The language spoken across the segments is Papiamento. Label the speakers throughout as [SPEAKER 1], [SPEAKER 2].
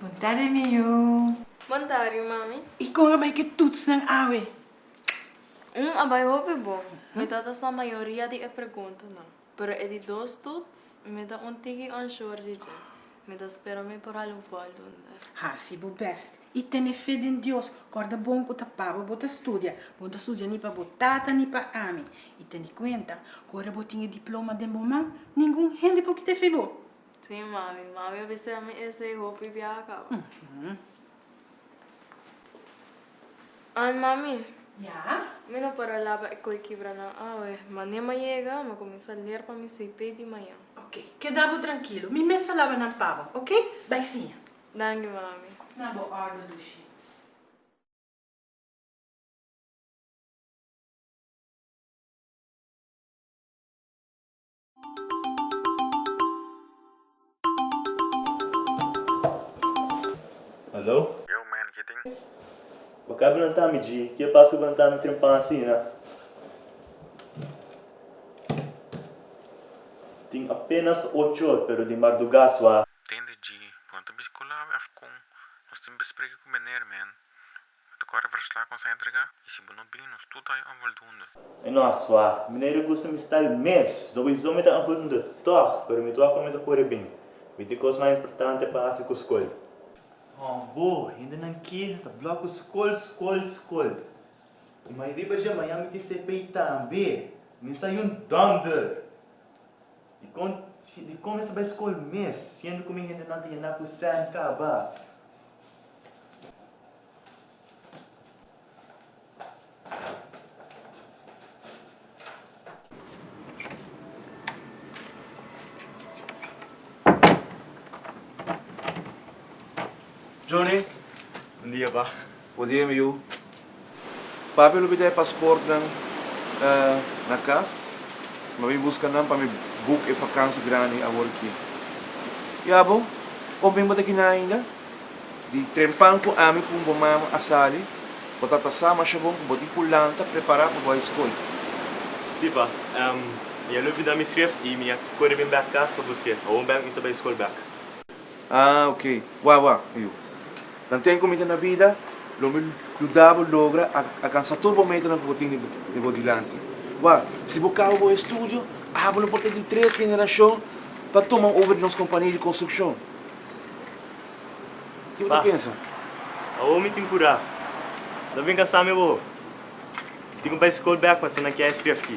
[SPEAKER 1] Bontadi miyu. Bontadi mami. Y con a bay ki toets nan awe? Hum a bay hopi bon. Mi ta ta sa mayoria di e pregunta nan. Pero e di dos toets mi ta un tiki unsure di dje. Mi ta spera mi por hala un voldoende. Hasi bo best. I tene fe den Dios. Kòrda bon ku ta paba bo ta studia. Bo no ta studia ni pa bo tata ni pa ami. I tene kuenta ku ora bo tin e diploma den bo man, ningun hende por kita fe bo. Sí, mami. Mami a bisa mi esei hopi biaha kaba. An, mami. Ya? Mi no para laba e koi kibra nan awe. Manem a yega, mi a kuminsá ler pa mi CP di mañan. Oke. Keda bo trankilo. Mi mes a laba nan pa bo, oke? Bai siña. Danki mami. Na bo ordo dushi. Hallo? Yo man, ke tin? Bo ka blanta mi dji, ke pasa ku blanta mi trempan asina? Tin apenas ocho or pero di marduga sua. Tende dji cu no ta bisti cu labi of con nos tin be spreke cu bener men bo ta core verslak nos a entrega y si bo no bin nos tur ta oy onvoldoende. Mi no a swa. Mi no e regusta mi stal mes. Su cu eso mi ta onvoldoende toch, pero mi tua cu mi ta core bin. Mi tin cos mas importante pa haci cu scol. Con bo, hendenan ki ta blok cu scol, scol, scol. Y mai riba dje maña mi tin CPI tambe. Mi no sa yun donder. Dikon, si, dikon mester bai skol mes, siendo ku mi hendenan ta yendá ku sèn kaba? Johnny, un dia ba. Buen dia, mi yu. Pape lo bida e pasportnan na cas, ma mi busca nan pa mi book e vakantie grandi awor aki. Ya bo, of mi no ta kina ainda? Di trempan cu ami cu bo mama a sali, bo ta ta sa masha bon cu bo tin culanta prepara pa bo a e scol. Si, pa. Mi a lo bida mi schrift y mi a core bin bek cas pa busca e. Awor mi ta bai e scol bek. Ah, ok. Wak, wak, Yu. Nan ten ku mi ta na bida, lo mi yuda bo logra alkansa tur bo metanan ku bo tin di bo dilanti. Wak, si bo kaba bo estudio, abo lo por ta di tres generashon pa tuma over di nos kompania di konstrukshon. Ke bo ta pensa? Awor mi tin purá. Lo mi bin kasá mi bo. Mi tin ku bai skol bèk pa ta na kier eskref ki.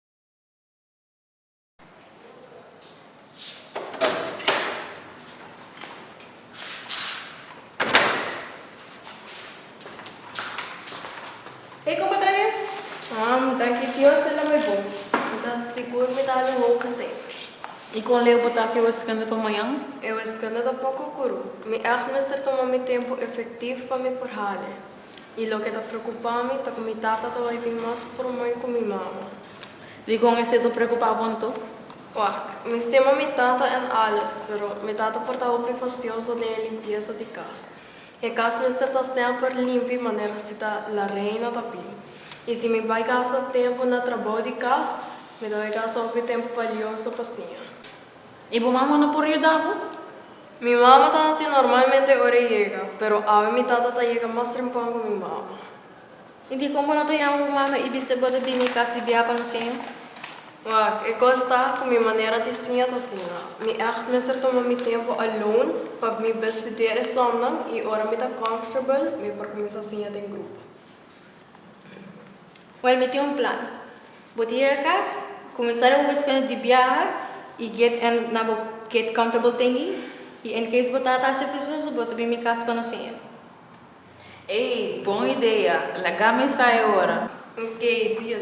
[SPEAKER 1] Hey con bo ta bien? Am, danki Dios e lama e bon. Mi ta sigur mi ta hali un hopi seker. Y con leu bo ta aki e weskunda pa mañan? E weskunda ta poco curu. Mi echt mester tuma mi tempo efectivo pa mi por hali. I loke ta preokupá mi ta ku mi tata ta bai bin mas promoi ku mi mama. Dikon esei ta preokupá bon to? Wak, mi stima mi tata en alles, pero mi tata por ta hopi fastioso den e limpiesa di kas. E kas mester ta semper limpi manera si ta La Reina ta bin. I si mi bai gasta tempu na trabou di kas, mi ta bai gasta hopi tempu valioso pa siña. I bo mama no por yuda bo? Mi mama ta hasi normalmente ora e yega, pero awe mi tata ta yega mas trempon ku mi mama. I dikon bo no ta yama bo mama i bis'é bo ta bini kas di biaha pa nos siña? Wak, e kos ta ku mi manera di siña ta asina. Mi ègt mester tuma mi tempu alone pa mi bestudeer esòmnan i ora mi ta comfortable mi por kuminsá siña den grupo. Well mi tin un plan. Bo tin yega cas, cuminsa riba bo biscuento di biaha y get en na bo get comfortable thingy y en case bo tata hasi presoso bo ta bini mi cas pa no siña. Ey, bon idea. Laga mi sa e ora. Ok, deal.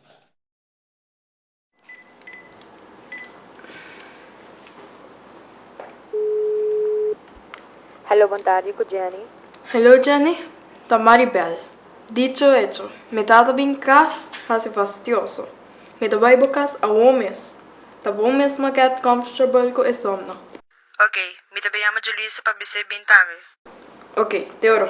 [SPEAKER 1] Hallo bon tardi ku Jenny. Hello Jenny, ta Maribel. Dicho hecho, mi tata bin kas hasi fastioso. Mi ta bai bo kas awor mes. Ta bon mesmo get comfortable ku e somno. Ok, mi ta bin yama Julisse pa bis'é bin tambe. Ok, te oro.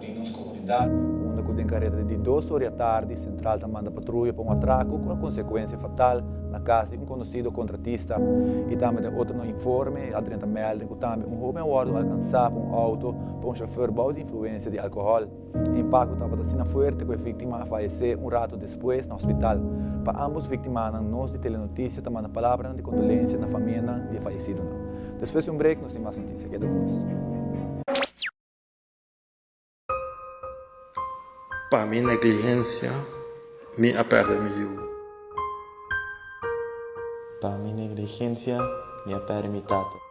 [SPEAKER 1] di nos komunidat. Unda ku den kareda di dos oria tardi Sentral ta manda patruya pa un atraku ku a konsekuensia fatal na kas di un konosido kontratista i tambe den otro no informe a drenta mèlde ku tambe un hóben a wòrdu alkansá pa un outo pa un shofèr bou di influensia di alkohòl. E impakto tabata asina fuerte ku e víktima a falesé un ratu despues na hospital. Pa ámbos víktimanan nos di Telenotisia ta manda palabranan di kondolensia na famianan di e falesidonan. Despues di un brek nos tin mas notisia. Keda ku nos. Pa mi negligencia mi a perde mi yu. Pa mi negligencia mi a perde mi tata.